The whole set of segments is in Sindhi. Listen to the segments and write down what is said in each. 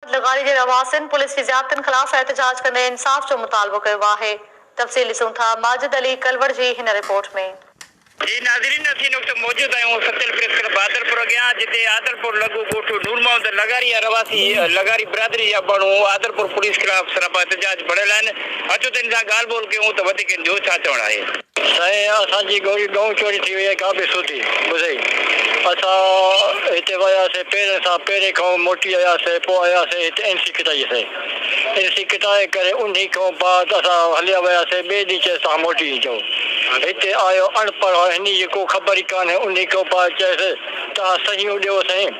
لغاري جي رهواسين پوليس جي زيادتين خلاف احتجاج ڪندي انصاف جو مطالبو ڪيو آهي تفصيل ڏسون ٿا ماجد علي ڪلوڙ جي هن رپورٽ ۾. جي ناظرين اسين هن وقت موجود آهيون ستيل پريس ڪلب عادلپور اڳيان جتي عادلپور لڳ ڳوٺ نور محمد لغاري جا رهواسي لغاري برادري جا ماڻهو عادلپور پوليس خلاف سراپا احتجاج ڀڙيل آهن اچو ته هن سان ڳالهه ٻولهه ڪيون ته وڌيڪ هن جو ڇا چوڻ آهي. سائين اسان جي گوري ڳئون چوري ٿي وئي ڪا به سوڌي ٻڌئي اسان هتي ويا سين پيرين سان پيري کئون موٽي آيا سين پو آيا سين هتي انسي ڪٽائي سين انسي ڪٽائي ڪري انهي کئون بعد اسان هليا ويا سين ٻي ڏينهن چيس تهان موٽي اچئو هتي آيو اڻ پڙهئو هني جي ڪو خبر ئي ڪانهي انهي کئون بعد چيس تهان سهيون ڏيئو سائين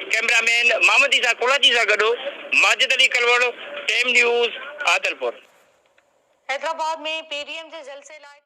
ڪئميرا مين محمد عيسيٰ ڪولاچي سان گڏ Majid Ali Kalhoro, team news, Adilpur. Hyderabad ۾ P D M جي جلسي لاء.